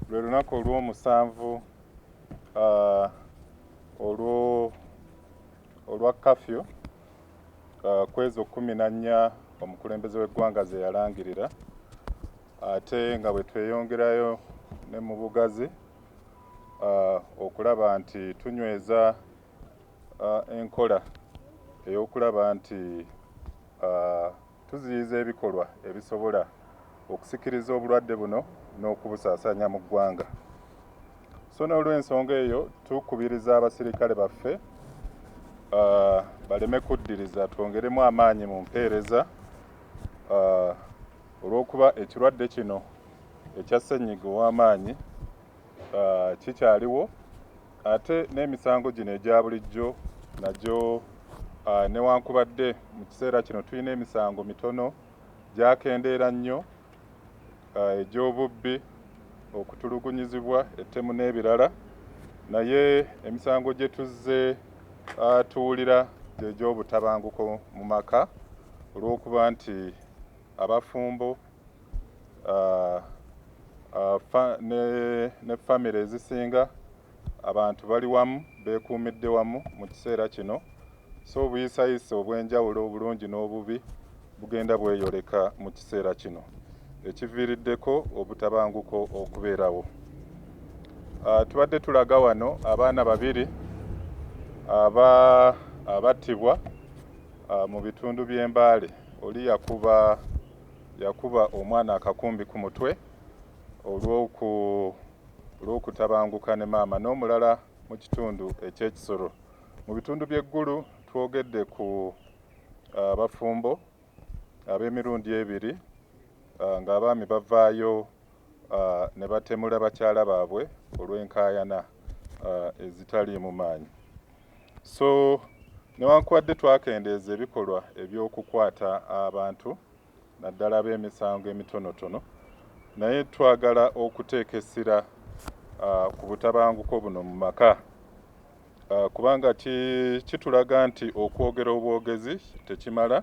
lwe lunaku olw'omusanvu olwa kafyu kwezo kumi na nnya omukulembeze w'eggwanga ze yalangirira ate nga bwe tweyongerayo ne mu bugazi okulaba nti tunyweza enkola ey'okulaba nti Tuziyiza ebikolwa ebisobola okusikiriza obulwadde buno n'okubusaasanya mu ggwanga so n'olwensonga eyo tukubiriza abasirikale baffe baleme kuddiriza twongeremu amaanyi mu mpeereza olw'okuba ekirwadde kino ekya ssennyiga ow'amaanyi uh, kikyaliwo ate n'emisango gino egya bulijjo nagyo uh, newankubadde mu kiseera kino tulina emisango mitono gyakendeera nnyo uh, egy'obubbi okutulugunyizibwa ettemu n'ebirala naye emisango gye tuzze uh, tuwulira gyegy'obutabanguko mu maka olw'okuba nti abafumbo uh, uh, fa, ne, ne famire ezisinga abantu bali wamu beekuumidde wamu mu kiseera kino so obuyisayisa obw'enjawulo obulungi n'obubi bugenda bweyoleka mu kiseera kino ekiviiriddeko obutabanguko okubeerawo uh, tubadde tulaga wano abaana babiri aba abattibwa uh, mu bitundu by'embaale oli yakuba yakuba omwana akakumbi ku mutwe olw'okutabanguka ne maama n'omulala mu kitundu eky'e Kisoro. Mu bitundu by'e Gulu twogedde ku abafumbo ab'emirundi ebiri ng'abaami bavaayo ne batemula bakyala baabwe olw'enkaayana ezitaliimu maanyi. So newankubadde twakendeeza ebikolwa eby'okukwata abantu naddala ab'emisango emitonotono naye twagala okuteeka essira ku butabanguko buno mu maka kubanga kitulaga nti okwogera obwogezi tekimala.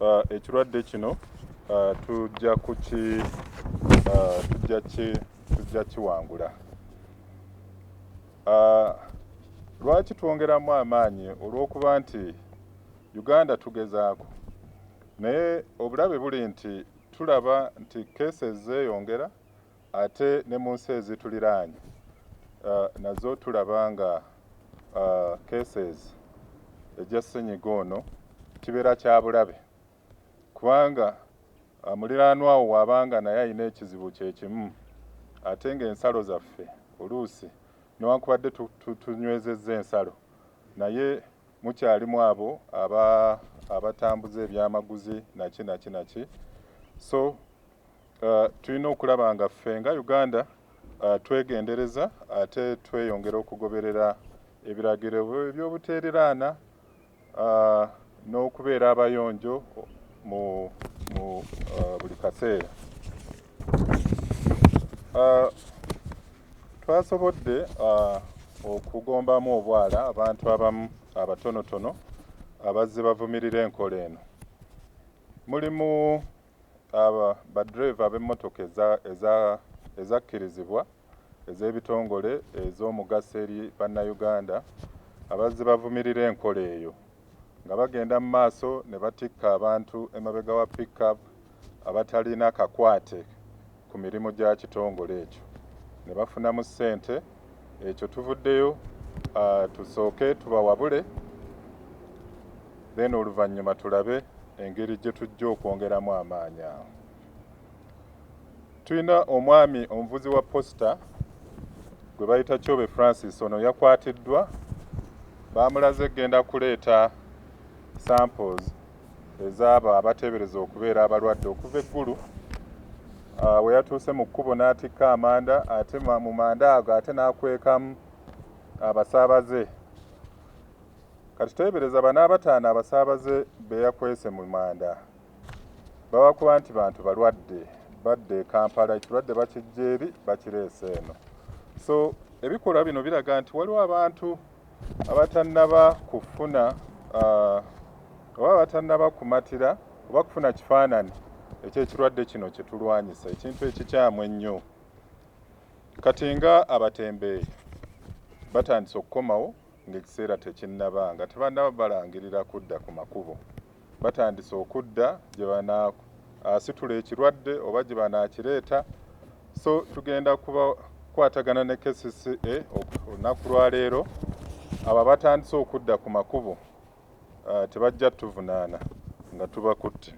Uh, ekirwadde kino uh, tujja kuki uh, tujja ki tujja kiwangula uh, lwaki twongeramu amaanyi olw'okuba nti uganda tugezaako naye obulabe buli nti tulaba nti kese zeeyongera Ate ne mu nsi ezituliraanye nazo tulaba nga cases egya ssenyiga ono kibeera kya bulabe kubanga muliraanwa wo w'aba nga naye alina ekizibu kye kimu ate ng'ensalo zaffe oluusi newankubadde tunywezezza ensalo naye mukyalimu abo abatambuza ebyamaguzi naki naki naki so Uh, tulina okulaba nga ffe nga uganda uh, twegendereza ate tweyongera okugoberera ebiragiro ebyobuteereraana uh, n'okubeera abayonjo mu, mu uh, buli kaseera uh, twasobodde uh, okugombamu obwala abantu abamu abatonotono abazze bavumirira enkola eno mulimu Abo baddereeva ab'emmotoka ezakkirizibwa ez'ebitongole ez'omugaso eri Bannayuganda abazze bavumirira enkola eyo nga bagenda mu maaso ne batikka abantu emabega wa pick-up abatalina kakwate ku mirimu gya kitongole ekyo ne bafunamu ssente ekyo tuvuddeyo tusooke tubawabule then oluvannyuma tulabe engeri gye tujja okwongeramu amaanyi awo tulina omwami omuvuzi wa posita gwe bayita kyobe francis ono yakwatiddwa baamulaze kugenda kuleeta samples ez'abo abateebereza okubeera abalwadde okuva e Gulu. Ah, we yatuuse mu kkubo n'atikka amanda ate mu manda ago ate n'akwekamu abasaabaze. Kati teebereza bano abataano abasaabaze be yakwese mu manda babakuba nti bantu balwadde badde e Kampala ekirwadde bakijja eri bakireese eno. So ebikolwa bino biraga nti waliwo abantu abatannaba kufuna uh, oba abatannaba kumatira oba kufuna kifaanani ekyekirwadde kino kyetulwanyisa ekintu ekikyamu ennyo kati nga abatembeeyi batandise okukomawo ngaekiseera tekinnaba nga tebannaba balangirira kudda ku makubo batandise okudda gye banaasitula ekirwadde oba gye banaakireeta so tugenda kubakwatagana ne kcca olunaku lwaleero abo abatandise okudda ku makubo ah, tebajja tuvunaana nga tubakutte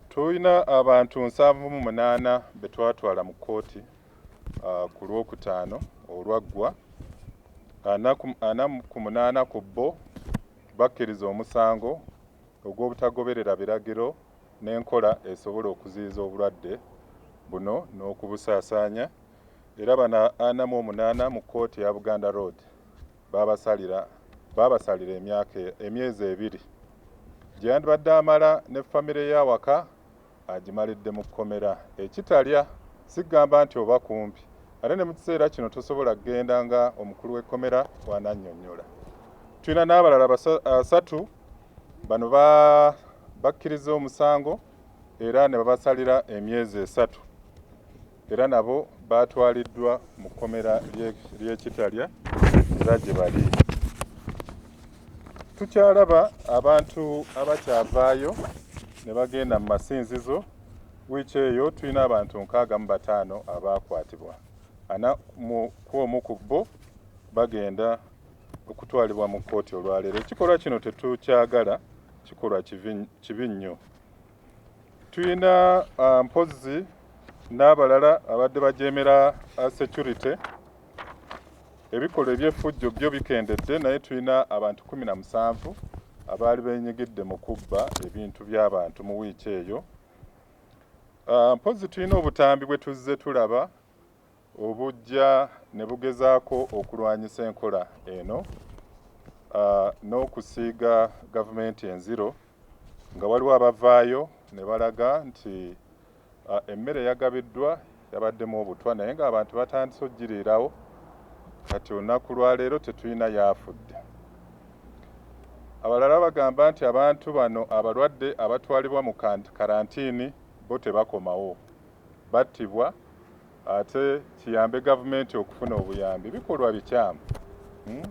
tulina abantu nsanvu mu munaana be twatwala mu kkooti ah, ku lwokutaano olwaggwa ana ku munaana ku bo bakkiriza omusango ogw'obutagoberera biragiro n'enkola esobola okuziyiza obulwadde buno n'okubusaasaanya era bano ana mu omunaana mu kkooti ya Buganda Road baabasalira baabasalira emyaka emyezi ebiri gye yandibadde amala ne famire ye awaka agimalidde mu kkomera e Kitalya si kugamba nti oba kumpi ate ne mu kiseera kino tosobola kugenda nga omukulu w'ekkomera bw'anannyonnyola. Tulina n'abalala basatu bano ba bakkirizza omusango era ne babasalira emyezi esatu. era nabo baatwaliddwa mu kkomera ly'e Kitalya era gye bali tukyalaba abantu abakyavaayo ne bagenda mu masinzizo wiiki eyo tulina abantu nkaaga mu bataano abaakwatibwa ana ku omu ku bo bagenda okutwalibwa mu kkooti olwaleero ekikolwa kino tetukyagala kikolwa kibi nnyo tulina uh, mpozzi n'abalala abadde bajeemera uh, security ebikolwa eby'effujjo byo bikendedde naye tulina abantu kumi na musanvu abaali benyigidde mu kubba ebintu by'abantu mu wiiki eyo uh, mpozzi tulina obutambi bwe tuzze tulaba obujja ne bugezaako okulwanyisa enkola eno n'okusiiga gavumenti enziro nga waliwo abavaayo ne balaga nti emmere eyagabiddwa yabaddemu obutwa naye ng'abantu batandise okugiriirawo kati olunaku lwaleero tetulina yaafudde abalala bagamba nti abantu bano abalwadde abatwalibwa mu karantiini bo tebakomawo battibwa ate kiyambe gavumenti okufuna obuyambi bikolwa bikyamu hmm?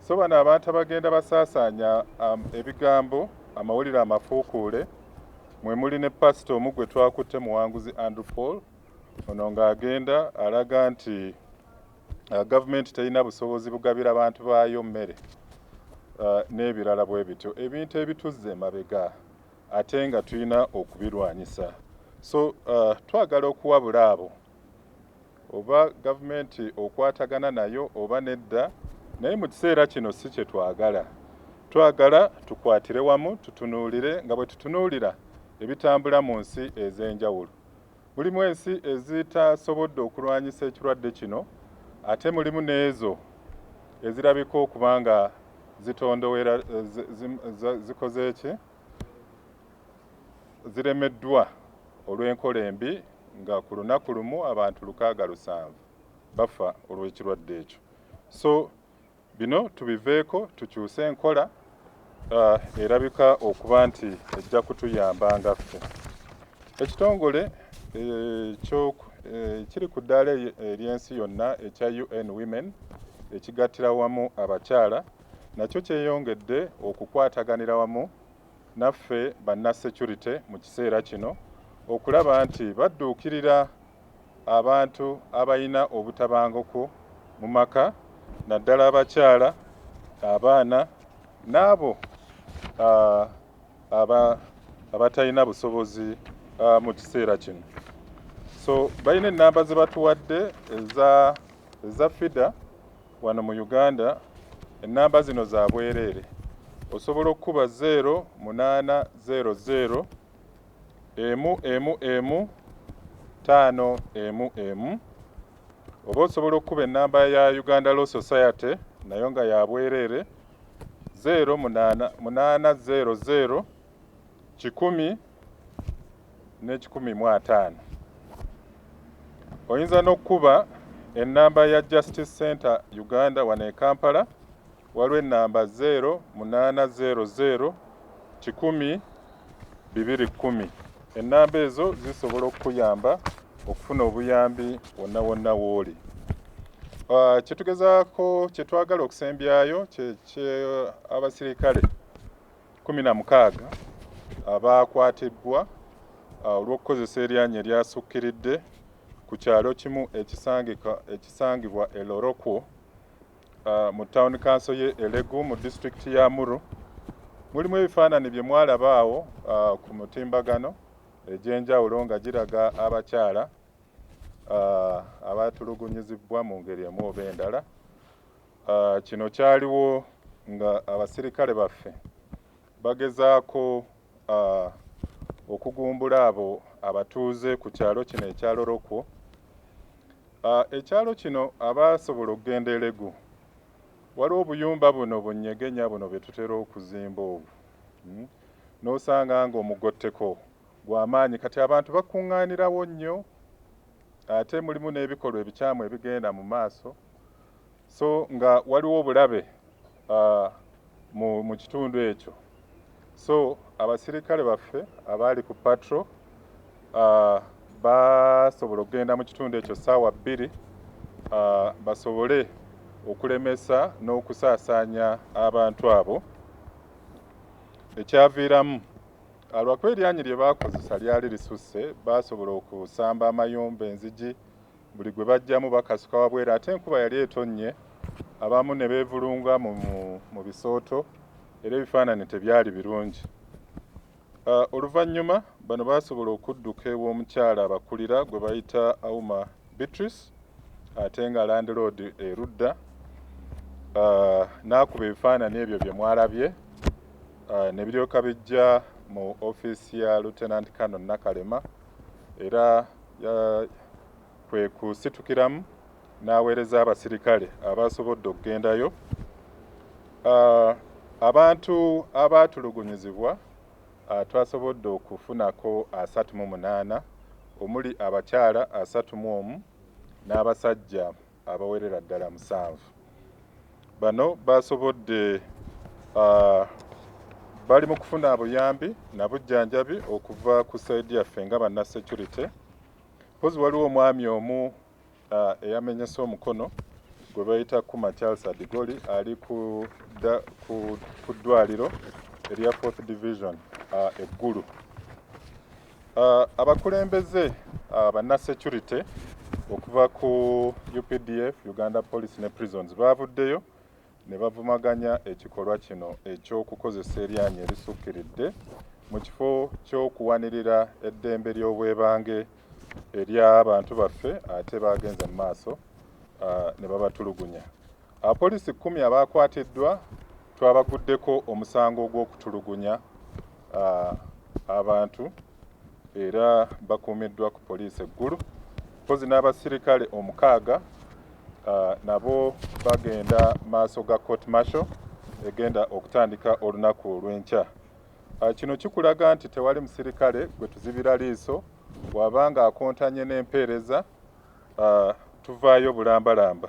so bano abantu abagenda basaasaanya um, ebigambo amawulire amafuukuule mwe muli ne pasita omu gwe twakutte muwanguzi andrew paul ono ng'agenda alaga nti uh, gavumenti terina busobozi bugabira bantu baayo mmere uh, n'ebirala bwe bityo ebintu ebituzze emabega ate nga tulina okubirwanyisa so uh, twagala okuwabula abo oba gavumenti okwatagana nayo oba nedda naye mu kiseera kino si kye twagala twagala tukwatire wamu tutunuulire nga bwe tutunuulira ebitambula mu nsi ez'enjawulo Mulimu ensi ezitasobodde okulwanyisa ekirwadde kino ate mulimu n'ezo ezirabika okuba nga zitondowera zikoze ki? ziremeddwa olw'enkola embi nga ku lunaku lumu abantu lukaaga lusanvu bafa olw'ekirwadde ekyo. So Bino tubiveeko tukyuse enkola erabika okuba nti ejja kutuyamba nga ffe. Ekitongole ekiri ku ddaala ery'ensi yonna ekya UN Women ekigattira wamu abakyala nakyo kyeyongedde okukwataganira wamu naffe banna securite mu kiseera kino okulaba nti badduukirira abantu abalina obutabanguko mu maka naddala abakyala, abaana n'abo abatalina busobozi mu kiseera kino. So balina ennamba ze batuwadde eza eza FIDA wano mu Uganda, ennamba zino za bwereere. Osobola okukuba zeero munaana zeero zeero emu emu emu taano emu emu oba osobola okukuba enamba ya Uganda Law Society nayo nga ya bwereere zeero munaana munaana zeero zeero kikumi n'ekikumi mu ataano. Oyinza n'okukuba ennamba ya Justice Center Uganda wano e Kampala Waliwo ennamba zeero munaana zeero zeero kikumi bibiri kkumi. Ennamba ezo zisobola okukuyamba okufuna obuyambi wonna wonna w'oli. Ah, kye tugezaako kye twagala okusembyayo kye abasirikale kumi na mukaaga abaakwatibbwa ah, olw'okukozesa eryanyi eryasukkiridde ku kyalo kimu ekisangibwa e Lorokwo uh, mu town council ye elegu mu district ya muru mulimu ebifaanani bye mwalaba awo uh, ku mutimbagano egyenjawulo nga giraga abakyala uh, abatulugunyizibwa mu ngeri emu oba endala uh, kino kyaliwo nga abasirikale baffe Bagezaako okugumbula abo abatuuze ku kyalo kino ekya Lorokwo. Ekyalo kino abaasobola okugenda Elegu, waliwo obuyumba buno bunyegenya buno bye tutera okuzimba obwo hmm? n'osanga ng'omugotteko gwa maanyi kati abantu bakuŋŋaanirawo nnyo Ate mulimu n'ebikolwa ebikyamu ebigenda mu maaso so nga waliwo obulabe mu kitundu ekyo so abasirikale baffe abaali ku patro basobola okugenda mu kitundu ekyo ssaawa bbiri basobole okulemesa n'okusaasaanya abantu abo ekyaviiramu Alwakuba eryanyi lye baakozesa lyali lisusse, baasobola okusamba amayumba, enzigi, buli gwe baggyamu bakasuka wabweru ate enkuba yali etonnye abamu ne beevulunga mu mu bisooto era ebifaananyi tebyali birungi. Uh, oluvannyuma bano baasobola okudduka ew'omukyala abakulira gwe bayita Auma Beatrice ate nga landiloodi erudda uh, n'akuba ebifaananyi ebyo bye mwalabye uh, ne biryoka bijja mu ofiisi ya Lieutenant Colonel Nakalema era kwe kusitukiramu n'aweereza abasirikale abaasobodde okugendayo ah, abantu abaatulugunyizibwa ah, twasobodde okufunako asatu mu munaana omuli abakyala asatu mu omu n'abasajja abawerera ddala musanvu. Bano basobodde uh, bali mu kufuna abuyambi nabujjanjabi okuva ku saidi yaffe nga banna security mpozi waliwo omwami omu uh, eyamenyese omukono gwe bayita kuma charles adigoli ali ku ddwaliro erya fourth division uh, eggulu Uh, abakulembeze uh, banna security okuva ku updf uganda police ne prisons baavuddeyo ne bavumaganya ekikolwa kino eky'okukozesa eryanyi erisukkiridde mu kifo ky'okuwanirira eddembe ly'obwebange ery'abantu baffe ate baagenze mu maaso uh, ne babatulugunya Abapoliisi kkumi abaakwatiddwa twabaguddeko omusango ogw'okutulugunya abantu era bakuumiddwa ku poliisi eggulu mpozi n'abasirikale omukaaga nabo bagenda maaso ga court marshal egenda okutandika olunaku olw'enkya ah, kino kikulaga nti tewali musirikale gwe tuzibira liiso waba ng'akontanye n'empeereza uh, tuvaayo bulambalamba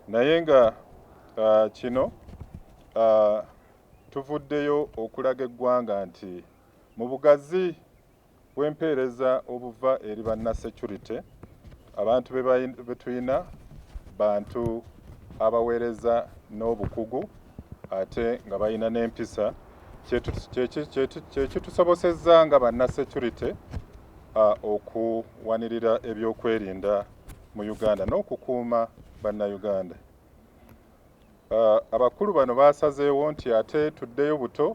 naye nga uh, kino uh, tuvuddeyo okulaga eggwanga nti mu bugazi bw'empeereza obuva eri banna security abantu be tulina bantu abaweereza n'obukugu ate nga balina n'empisa kyekitusobosezza nga banna security okuwanirira ebyokwerinda mu Uganda n'okukuuma Bannayuganda. Abakulu bano baasazeewo nti ate tuddeyo buto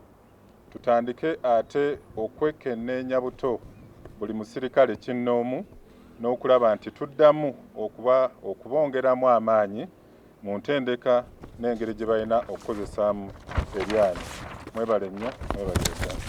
tutandike ate okwekenneenya buto buli musirikale kinnoomu n'okulaba nti tuddamu okuba okubongeramu amaanyi mu ntendeka n'engeri gye balina okukozesaamu eryanyi. Mwebale nnyo, mwebale Uganda.